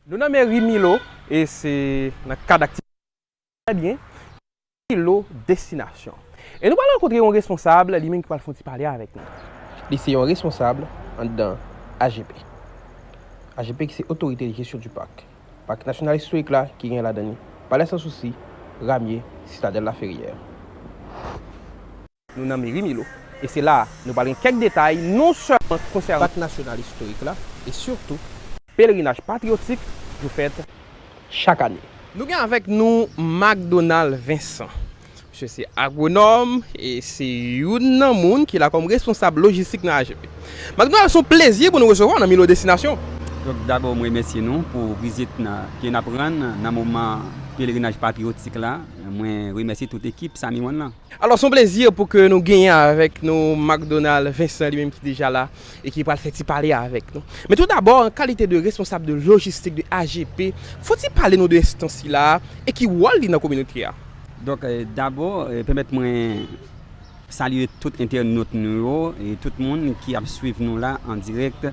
Nou nan meri Milo e se nan kad aktivite Trè byen, ki se Milo Destinasyon. E nou pral rankontre yon responsab, li menm ki pral fè yon ti pale avèk nou. Li se yon responsab anndan AGP. AGP ki se Otorite de Jesyon di Pak. Pak Nasyonal Istorik la ki gen ladan li Palè San Sousi, Ramye, Sitadèl Laferyè. Nou nan Meri Milo, e se la a nou pral gen kèk detay non sèlman ki konsène. Pak Nasyonal Istorik la, e sitou. Pelerinaj Patriyotik yo fèt chak ane. Nou gen avèk nou Macdonald Vincent. Misye se agwonòm e se youn nan moun ki la kòm responsab lojistik nan AGP. Macdonald, se yon plezi pou nou resevwa w nan Milo Destinasyon. Donk dabò m remèsye nou pou vizit ke n ap rann nan moman Pelerinaj Patriyotik la. Mwen remèsye tout ekip Samy One lan. Alò son plezi pou ke nou genyen avèk nou Macdonald Vincent li menm ki deja la e ki pral fè ti pale a avèk nou. Men tou dabò an kalite de responsab de lojistik de AGP, fò ti pale nou de enstans sila a e ki wòl li nan kominote a. Donk dabò pèmèt mwen salye tout entènot nou yo e tout moun ki ap swiv nou la an dirèk.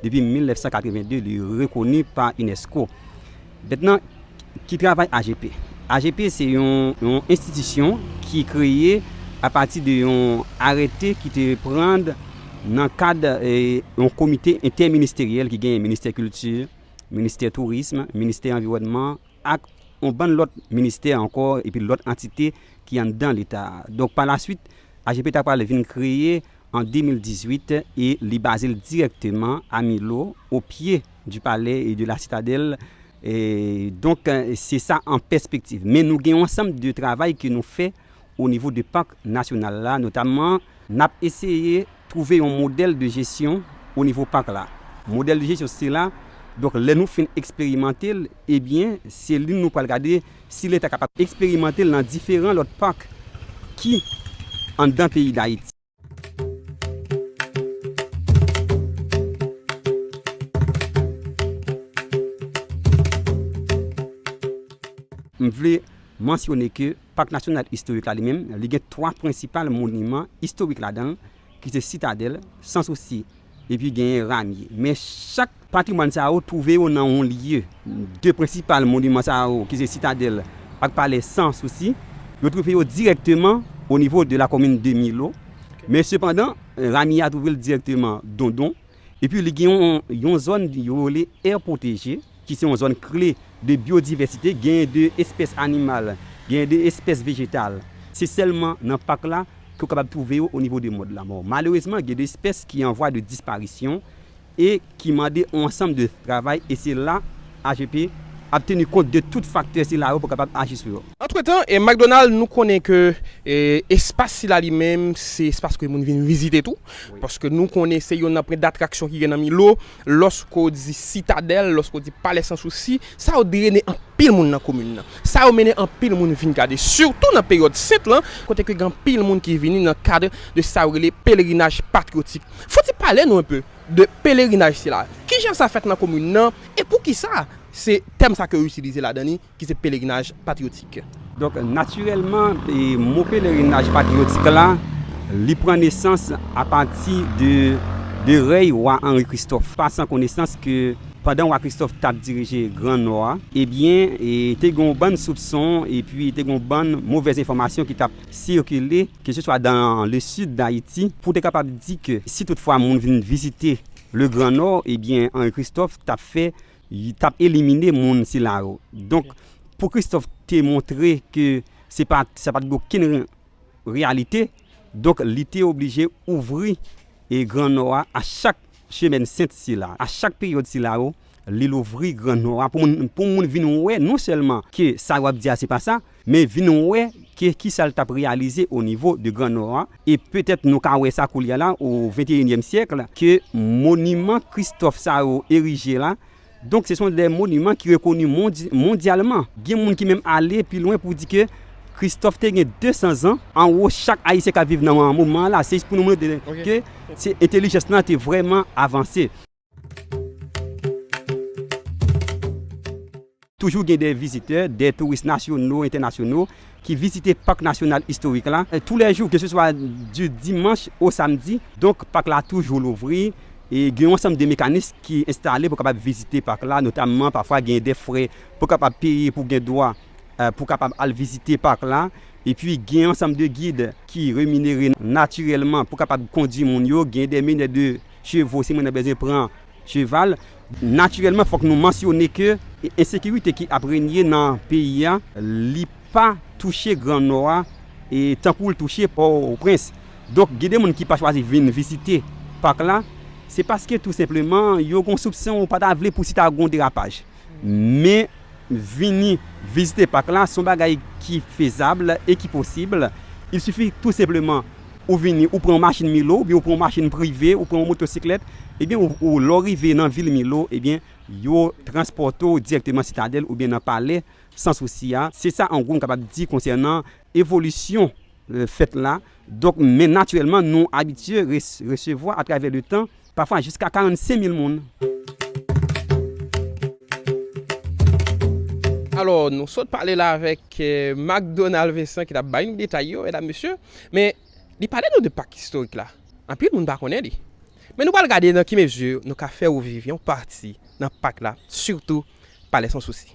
Depi 1982 li rekoni pa unesco. Mètnan ki travay AGP? AGP se yon enstitisyon ki kreye apati de yon arète ki te prand nan kad yon komite entèministeryèl ki genyen ministè kilti, ministè tourism, ministè anviwònman, ak yon bann lòt ministè ankò epi lòt antite ki anndan Leta a. Donk pa lasuit, AGP ta pral vin kreye an 2018 e li baze l dirèkteman a Milo, o pye di palè e de la sitadèl. Donk se sa an pèspektiv. Men nou gen yon ansanm de travay ke nou fè. o nivo de Pak Nasyonal la notamman. N ap eseye twouve yon modèl de jesyon o nivo Pak la. Modèl de jesyon sila, donk lè nou fin eksperimante l, ebyen se li nou pral gade si Leta kapab eksperimante l nan diferan lòt Pak ki anndan peyi Dayiti. M vle mansyone ke Pak Nasyonal Istorik la li menm, li gen 3 prensipal moniman istorik ladan l ki se Sitadèl, Sans Souci, Epi genyen ramye. Men chak patrimwàn sa yo twouve yo nan yon lye. De prensipal moniman sa yo ki se Sitadèl ak Palè San Sousi, yo twouve yo dirèkteman o nivo de lakomin de Milo. Men sepandan, ramye a twouve l dirèkteman Dondon. Epi li gen yon zòn yo rele è pwoteje. ki se yon zòn kle de byodivèsite, genyen de espès animal, genyen de espès vejetal, se sèlman nan pak la ke ou kapab twouve yo onivo de mòn lanmò. Malerezman, gen de espès ki an vwa de disparisyon e ki mande yon ansanm de travay e se la AGP ap teni kont de tout faktè sila yo pou kapab aji sou yo. Antretan, McDonald, nou konnen ke espas sila li menm se espas ke moun vin vizite tou, paske nou konnen se yonn nan pwen datraksyon ki gen nan Milo, Lòske w di Sitadèl, lòske w di Palè San Sousi, sa yo drene anpil moun nan komin nan. Sa yo mennen anpil moun vin gade, sitou nan peryòd Sent lan, kote ke gen anpil moun ki vini nan kad de sa yo rele pelerinaj patriyotik. Foti pale nou enpe de pelerinaj sila. Kijan sa fèt nan komin nan e poukisa se tèm sa ke yo itilize ladan li? Ki se pelerinaj patriyotik. Donk, natirèlman, mo pelerinaj patriyotik la, li pran nesans apati de de rèy wa Anri Kristòf. Pa san konesans ke pandan wa Kristòf t ap dirije Gran Nò a, ebyen, te gen yon bann soupson epi te gen yon bann movèz enfòmasyon ki t ap sikile keseswa dan le sid Dayiti pou te kapab di ke si tout fwa moun vin vizite le Gran Nò, ebyen, Anri Kristòf t ap fè t ap elimine moun sila yo. Donk, pou Kristòf te montre ke se pa t gen okenn reyalite, donk li te oblije ouvri Gran Nò a a chak semèn sent sila, a chak peryòd sila yo, li louvri Gran Nò a pou moun vin wè non sèlman ke sa yo ap di a se pa sa, men vin wè ke kisa l t ap reyalize o nivo de gran nò a, e petèt nou ka wè sa koulye a la o venteyinyèm syèk la, ke moniman kristòf sa yo erije la, donk se son de moniman ki rekoni mondyalman. Gen moun ki menm ale pi lwen pou di ke kristòf te gen 200 zan anwo chak ayisyen k ap viv nan moman an la, se jis pou nou montre ke entelijans lan te vrèman avanse. Toujou gen de vizitè, de touris nasyono, entènasyono ki vizite Pak Nasyonal Istorik la tou lè jou, keseswa di dimanch o samdi. Donk, pak la toujou louvri e gen yon ansanm de mekanis ki enstale pou kapab vizite pak la. Notamman, pafwa gen de frè pou kapab peye pou gen dwa pou kapab al vizite pak la. Epi, gen yon ansanm de gid ki reminere natirèlman pou kapab kondui moun yo. Gen de menè de. Chevo, si mwen nan bezwen pran cheval. Natirèlman fòk nou mansyone ke ensekirite ki ap renye nan peyi a, li pa touche gran nò a tankou l touche Pòtoprens. Donk gen de moun ki pa chwazi vin vizite pak la, se paske tou senpleman yo gen yon soupson yo pa ta vle pou si ta gen yon derapaj. Men, vini vizite pak la se yon bagay ki fezab e ki posib. Il sifi tou senpleman ou vini, ou pran yon machin Milo oubyen ou pran yon machin prive, ou pran yon motosiklèt, ebyen ou lè w rive nan vil Milo, ebyen yo transpòte w dirèkteman Sitadèl oubyen nan Palè San Sousi a. Se sa an gwo m kapab di konsènan evolisyon fèt la. Donk, men natirèlman nou abitye resevwa atravè le tan. Pafwa jiska 45 mil moun. Alò, nou sot pale la avèk Macdonald Vincent ki t ap bay nou detay yo, medam, mesye. Men, li pale nou de Pak Istorik la. Anpil moun pa konnen li. Men nou pral gade nan ki mezi nou ka fè ou viv yon pati nan Pak la, sitou Palè San Sousi.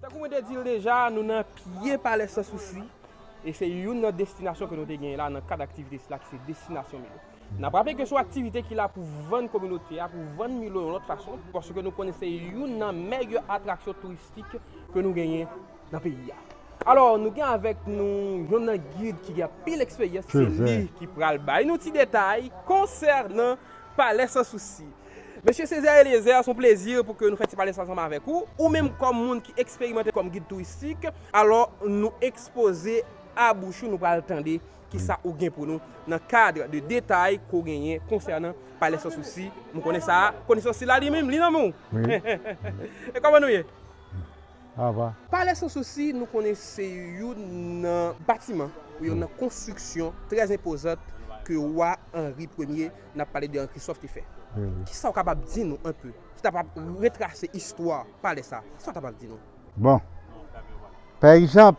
Tankou mwen te di l deja, nou nan pye Palè San Sousi e se youn nan destinasyon ke nou te genyen la nan kad aktivite sila ki se Destinasyon Milo. N ap raple ke se yon aktivite ki la pou vann kominote a, pou vann Milo yon lòt fason, paske nou konnen se youn nan mèg atraksyon touristik ke nou genyen. nan peyi a. Alò nou gen avèk nou yon nan gid ki gen anpil eksperyans se li ki pral bay nou ti detay konsènan Palè San Sousi. Mesye Césaire Eliezer se yon plezi pou ke nou fè ti pale sa ansanm avèk ou, ou menm kòm moun ki eksperimante kòm gid touristik, alò nou ekspoze a bouch ou nou pral tande kisa ou gen pou nou nan kad de detay ke w genyen konsènan Palè San Sousi, m konnen sa a, konesans sila li menm li nan men w? Wi. E kòman nou ye? Ava. Palè Sansousi nou konnen se youn nan batiman ou yon nan konstriksyon trè enpozant ke Wa Anri Premye n ap pale de Anri Kristòf te fè. Ki sa ou kapab di nou anpe ki ta pap retrase istwa palè sa? Ki sa ou kapab di nou? Bon. Pa egzanp.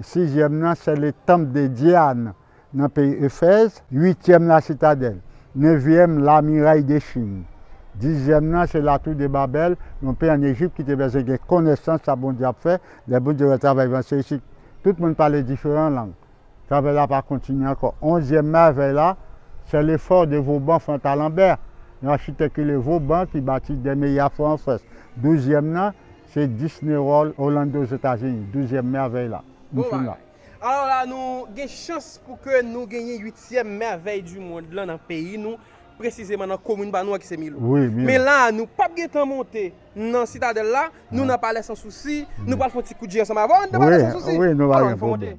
sizyèm nan se le tanp de Dyan nan peyi Efèz, uityèm la sitadèl, nevyèm la miray de Chin, dizyèm nan se latou de Babèl, yon peyi an Ejip ki te bezwen gen konesans sa Bondye ap fè, lè Bondye wè travay van se isit tout moun pale diferan lang, travay la pa kontinye ankò. Onzyèm mèvèy la se le fò de Voban Fontalanbè, yon achitèk rele Voban ki bati Dèmeya fò an Frans, douzyèm nan. Se Disney World Orlando Ozetazini, douzyèm mèvèy la. M fin la. Alò la nou gen chans pou ke nou genyen uityèm mèvèy di mond lan nan peyi nou, presizeman nan komin pa nou an ki se Milo. Men la a nou pap gen tan monte nan Sitadèl la, nou nan Palè San Sousi, nou pral fè yon ti kout je ansanm avè w, an nou nan Palè San Sousi? Alò an nou fè w monte.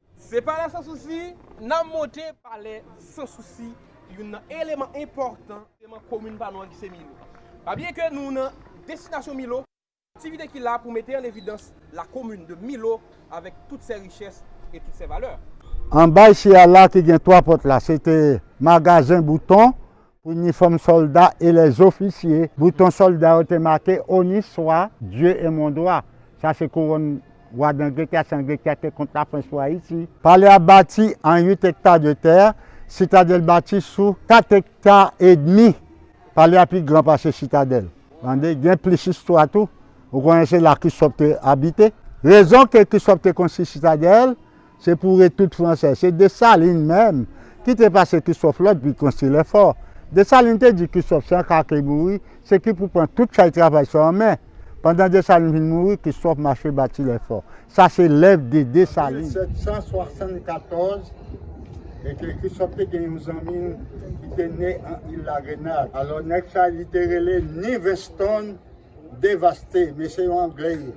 Se palè san sousi n a monte. Palè san sousi youn nan eleman enpòtan nan komin pa nou an ki se Milo. A byen ke nou nan Destinasyon Milo, aktivite ki la pou mete an evidans la komin de Milo avèk tout sè richès e tout sè valè. Anba isi a la ki gen 3 pòt la se te Magazen Bouton Inifòm sòlda e lèzofisye, bouton sòlda yo te make Honi Swa, Dye e Mon Dwa. Sa se kouwòn Wa d'Angletè a, si Angletè te kont Lafrans pou Ayiti. Palè a bati an 8 ekta de tè, Sitadèl bati sou 4 ekta edmi. Palè a pi gran pase Sitadèl. Tande, gen plis istwa tou. Ou konnen se la Krisòf te abite. Rezon ke Krisòf te konstwi Sitadèl. Se pou ret tout fransè. Se Dessalines menm ki te pase Christophe lòd pou l konstwi lèfò. Dessalines te di Christophe se an ka ke l mouri, se ki pou pran tout chay travay sa an men. Pandan Dessalines vin mouri, Christophe mache bati lèfò. Sa se lèv de Dessalines. 1774, e ke Christophe te gen yon zanmi l ki te ne an il la Grenad. Alò nèg sa li te rele Nivenstone. devaste men se yon anglè ye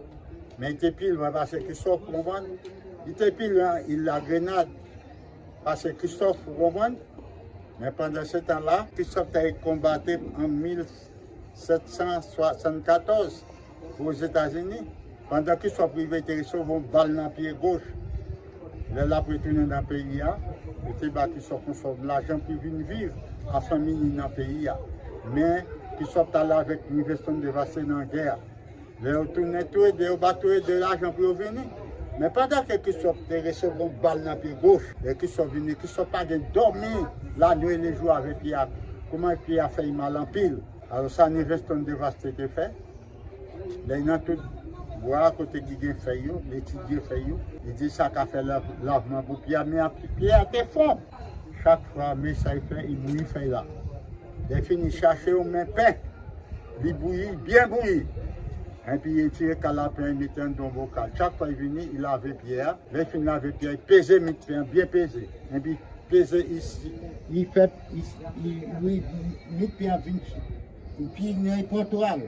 men li te pi lwen pase Christophe ou konprann li te pi lwen il la grenad pase Christophe ou konprann men pandan se tan la Christophe te konbate an 1774 pou ozetazini. Pandan Christophe rive te resevwa yon bal nan pye goch. Lè l ap retounen nan peyi a, yo te ba Christophe yon sòm lajan pou l vin viv a fanmi li nan peyi a. Men, Christophe t ale avèk Miveston Devassé nan gè a. Lè yo tounen, tou le de yo ba tou le de lajan pou yo vini. Men pandan ke Christophe te resevwa yon bal nan pye goch, lè Christophe vini, Christophe pa gen dòmi lanwit lejou avèk pye a. Kouman pye a fè li mal anpil. Alò sa Miveston Devassé te fè, Lè nan tout bwa kote ki gen fèy yo, li etidye fèy yo. Li di sa ka fè lavman pou pye a, men apre pye a te fon, chak fwa men sa li fè, li bouyi fèy la. Lè li fin, li chache yon men pen, li bouyi, byen bouyi. Enpi li etire kal la pen, li mete anndan yon bokal. Chak fwa li vini, li lave pye a. Lè li fin lave pye a, li peze mit pen an, byen peze. Enpi peze, li fè, li, mit pen an vin. Li pi gran li pran twa l.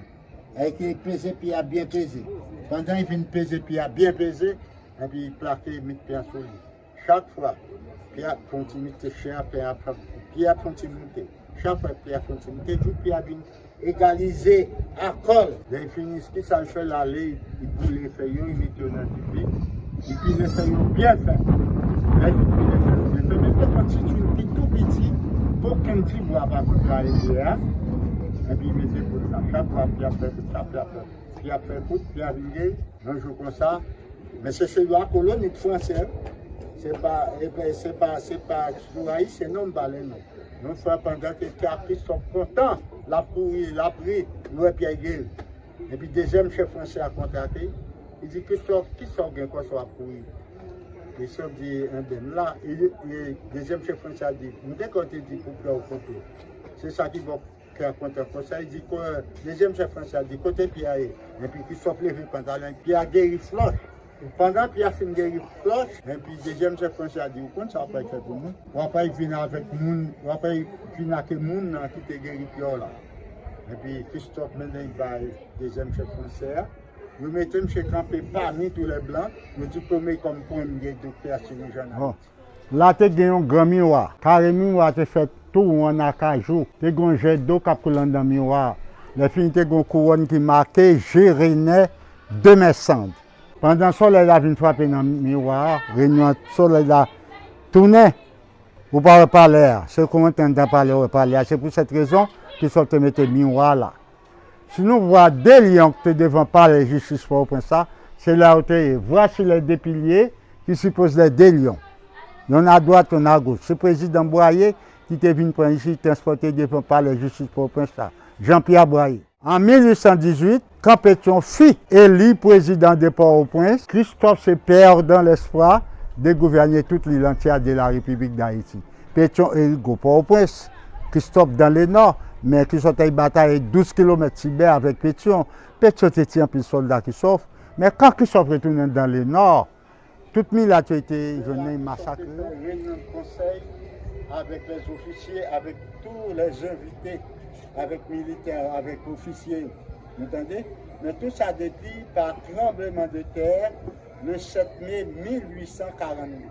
Èy ke li peze pi a byen peze. Pandan li fin peze pi a byen peze, epi li plake mit pen an sou li. Chak fwa pi a fè yon ti mite chè a, pen an ap fè pi a fè yon ti moute. Chak fwa pi a fè yon ti moute jouk pi a vin egalize akò l. Lè li fini, kisa li fè? L ale. Li boule fèy yo, li mete yo nan di bri, li pile fèy yo byen fen. Lè li fin pile fèy yo byen fen, mete yon ti twil ki tou piti, okenn ti bwa pa kontrare biyè a, epi mete poud la. Chak fwa pi ap fè kout, sa pi ap fè kout. Pi ap fè kout, pi a vin ge, yon jou konsa. Men se se lwa kolonit franse, se pa, se pa, se pa sou Ayisyen non m pale non. Yon fwa pandan ke Ti a Kristòf kontan, l ap kouri, l ap ri, li wè Pyè Geri. Epi dezyèm chèf franse a kontrake, li di, Kristòf, ki sa w gen kò sa w ap kouri? Kristòf di, Enben, m la. E dezyèm chèf franse a di, M gen kè w te di pou pye w konte. Se sa ki fè pye a konte ankò. Sa vle di, dezyèm chèf franse a di, Kote pye a ye? Epi Kristòf leve pantalon l, pye a geri flòch. Pandan Pyè fin geri Plòt, enpi dezyèm chèf franchi a di, Ou konn sa w apral fè pou mwen? Ou apral vin avèk moun, ou apral vin ake moun nan ki te geri Pyè w la. Enpi Kristòf mennen l bay dezyèm chèf franchi a. Yo mete msye kanpe pami toulèblan, yo diplome kòm premye doktè a sirijyan nan Ayiti. La te gen yon gran miwa. Kare miwa a te fèt tou won ann akajou. Te gen yon jè do k ap koule anndan miwa a. Lèfini te gen yon kouwòn ki make je Renè Demèsand. Pandan solèy la vin frape nan miwa a, Renè an, solèy la tounen. Ou pa wè palè a. Se kon w antre anndan palè w wè palè a. Se pou sèt rezon Krisòf te mete miwa a la. Si nou vwa de lyon k te devan palè jistis Pòtoprens la, se la yo te ye. Vwachi lè de pilye ki sipoz lè de lyon. Yonn adwat, yonn agoch. Se prezidan Bwaye ki te vin pran isit, transpòte devan palè jistis Pòtoprens la. Jan Pya Bwaye. An 1818, kan Petyon fi eli prezidan de Pòtoprens, Kristòf se pèdan lèspwa de gouvène tout lil antye a de la Repiblik Dayiti. Petyon Erik Gwo Pòtoprens, Kristòf Dan Lenò, men ki sot ay batay ay 12 kilomèt Tibè avèk Petyon. Petyon te tiye anpil sòlda Kristòf, men kan Kristòf retounen Dan Lenò, tout milat yo te jwenn nan, yo masakre yo. Petyon Erik Gwo Pòtoprens, Petyon Renan Konsèy avèk lèzofisye, avèk tou lèzenvite, avèk militè, avèk ofisye yo. Nou tande? Men tou sa depi pa tranbleman de tè le 7 me 1842.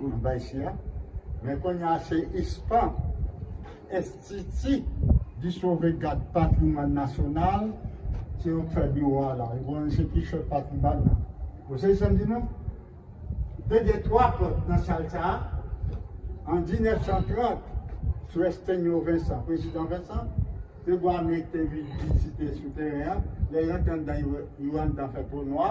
Moun bay si a. Men konnya se ISPAN, Enstiti di Sove Gad Patrimwàn Nasyonal, se yo k fè biwo a la. Yo konnen se ki chèf patrimwàn nan. Ou sezi sa m di nou? Te gen 3 pòt nan sal sa a. An 1930, sou Estenyo Vensan, Prezidan Vensan, te vwa mete vizite sou teren an. Lè yo antre anndan, yo wè anndan fè twou nwa.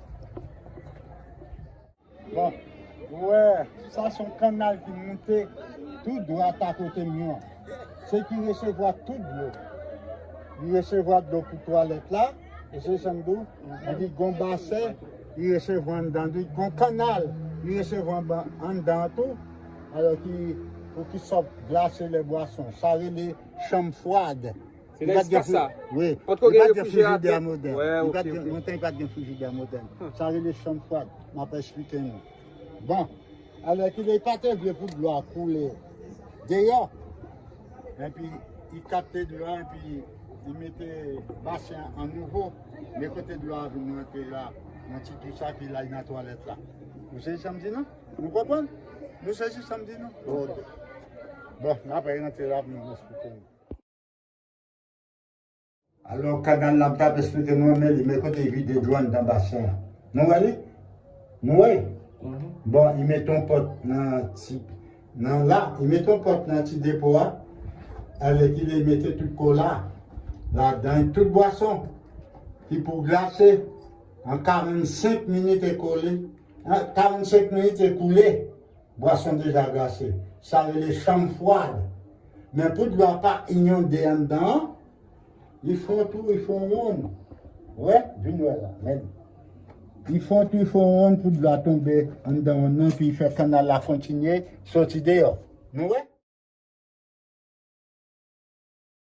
Bon, ou wè, sa son kanal ki moute tout dwa ta kote m yo. Se ki resevwa tout dlo. Li resevwa dlo pou twalèt la, e se sa m di w, e pi gon basè li resevwa anndan li, gon kanal li resevwa anndan an tou, alò ki pou ki sòt glase lè bwason. Sa rele chanm fwad. Se nan espas sa? Wi. An tou ka gen refrijeratè? Wi. Nan yon tan li pa t gen frijidè modèn. Sa rele chanm fwad. M ap esplike nou. Bon, alò kilè li pa te vle pou dlo a koule deyò, enpi li kapte dlo a enpi li mete basen an an nouvo, men kote dlo a vin rantre la, yon ti twou sa, epi l al nan twalèt la. Nou sezi sa m di nou? Nou konprann? Nou sezi sa m di nou? Ok. Bon, n ap re-rantre la pou m esplike nou. Alò Kagan nan pap esplike nou anmè li men kote li vide dlo anndan basen an. Nou wè li? Nou wè? Bon li mete yon pòt nan ti nan la, li mete yon pòt nan ti depo a, alèkile li mete tout kola ladan, tout bwason ki pou glase an 45 minit ekole, an 45 minit ekoule Bwason deja glase. Sa rele chanm fwad. Men pou dlo a pa inyonde anndan an, li fè yon tou, li fè yon wonn. Wè? Vin wè la. Men li. Li fè yon tou, li fè yon wonn pou dlo a tonbe anndan wonn nan epi li fè kannal la kontinye soti deyò. Nou wè?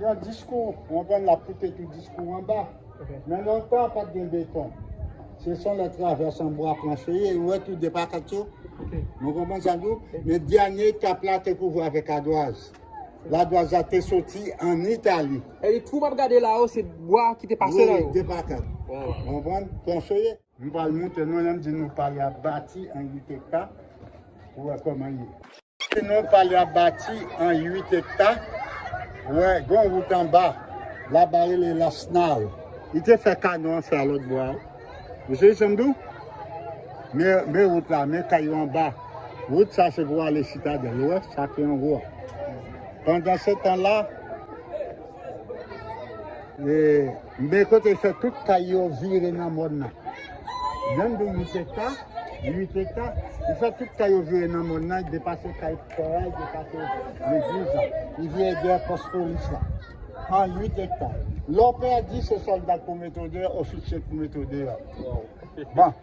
Yon diskou, ou konprann lap koute tout diskou anba. Men nan tan an pat gen beton. Se son lè travès an bwa planche ye, ou wè tou de pakat yo. Nou konprann sa m di ou? Men dènye etap la te kouvri avèk adwaz. Ladwaz la te soti an Itali. Twou m ap gade la yo se bwa ki te pase la yo. Wi, de pakat. Ou konprann? Planche ye. M pral moutre nou lèm di nou pale a bati an 8 ekta pou wè koman l ye. Di nou pale a bati an 8 ekta pou wè gon wout anba la ba rele lasnal. Li te fè kanon an fè a lòt bwa wi. Ou sezi sam di w? Men wout la, men kay yo anba. Wout sa se pou ale sitadèl ou wè sa ki anwo a. Pandan se tan la. Mbe kote fè tout kay yo vire nan mòn nan. Yon de 8 ekta, 8 ekta, li fè tout kay yo vire nan mòn nan, li depase kay pastè a, li depase legliz la, li vire dèyè pòs polis la. An 8 ekta. Lè w pèdi se sòlda k pou mete w deyò, ofisye k pou mete w deyò. Bon.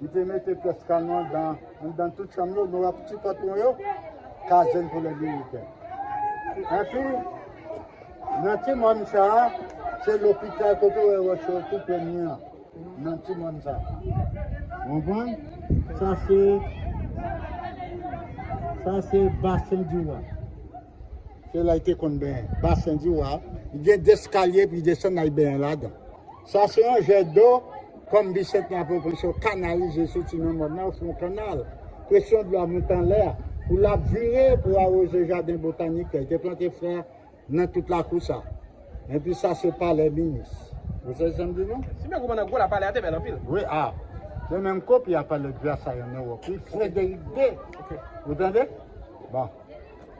Li te mete pyès kanon anndan tout chanm yo, nou wè ti pòt mwen yo, kazèn pou lè militè. Enpi, nan ti mòn sa a, se lopital kote ou wè wòch yo tou premye an, nan ti mòn sa a. Ou konprann? Sa se, sa se basen di wa. Se la li te konn benyen, basen di wa. Li gen de eskalye pou li desann al benyen ladan. Sa se yon jèt do, kòm Bisantnè ap reponse yo, kanalize soti nan mòn nan, yo fè yon kannal. Presyon dlo a monte anlè, pou l ap vire pou awoze jaden botanik ke l te plante flè nan tout lakou sa. Enpi sa se palè minis. Ou sezi sa m di nou? Si byen konprann an gwo la palè a te bèl anpil. Wi a. Se menm kopi a palè Dyasayon nan Ewòp wi, Frederick ii. Ou tande? Bon.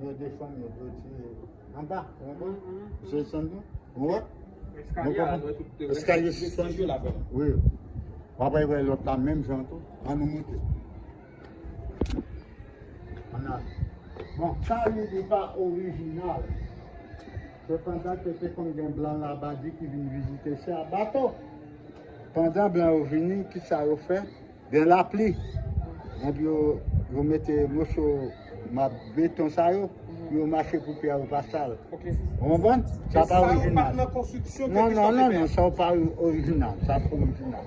Yo desann yo dwe tiye anba ou wè misye desann tou ou wè eskalye a dwe tout te eskalye sispann wi wap wè lòt la menm jan tou an nou moute an al bon sa li di pa orijinal sepandan ke te konn gen blan labadi ki vin vizite sa bato pandan blan yo vini kisa yo fè Gen lapli, epi yo mete moso beton sa yo, pou yo mache pou pyè yo pa sal. Ou konprann? Sa pa orijinal. Non, non, non, non, sa pa orijinal. Sa pa orijinal.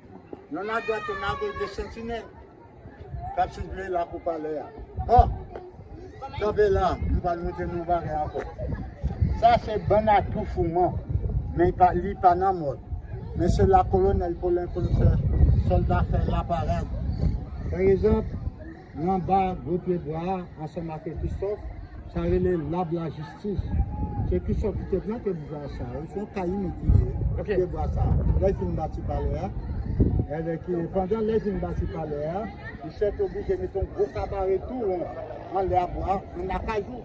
Yon la dwat yon la goch 2 santinèl kap siveye lakou palè a. Bon! Kanpe la, m pral montre nou yon bagay ankò. Sa se bann a tou fouman, men li pa nan mòd. Men se la kolonèl Polen konn fè sòlda fè laparad. Pa egzanp. Nan anba gwo pye bwa a ansanm ak Ekristof, sa rele Lab Lajistis. Se Ekristof ki te plante bwa sa yo. Se yon kayime ki pye bwa sa a. Lè l fin bati palè a, pandan lè l fin bati palè a, misye te oblije mete yon gwo kabare tou won anlè a bwa an akajou.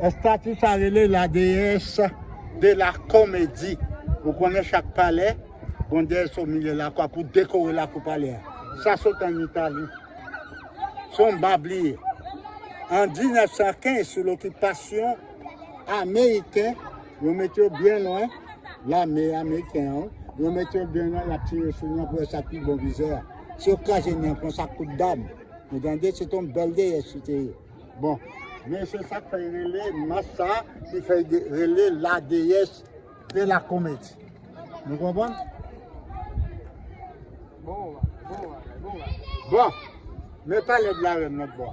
Estati sa rele la deyès de la komedi. Ou konnen chak palè, gon deyès o milye la kwa pou dekore la kou palè a. Sa sot an Itali. Son bab li ye. An 1915, sou lokipasyon ameriken, Yo met yo byen lwen lame ameriken an. Yo met yo byen lwen lap tire sou nou pou yo sa pi bon vizè a. Si yo kraze nou pran sa kout dam. Ou tande se ton bèl deyè si te ye. Bon. Men se sak fè yo rele mas sa ki fè yo rele la deyès de la komedi. Nou konprann? Bon bagay, bon bagay, bon bagay. Bon. Men pale de la rèn lòt bò.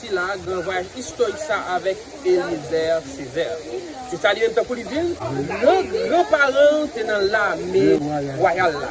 sila a, gran vwayaj istorik sa a avèk Eliezer Césaire. Se sa li menm tankou li di l, gran gran paran l te nan lame wayal la.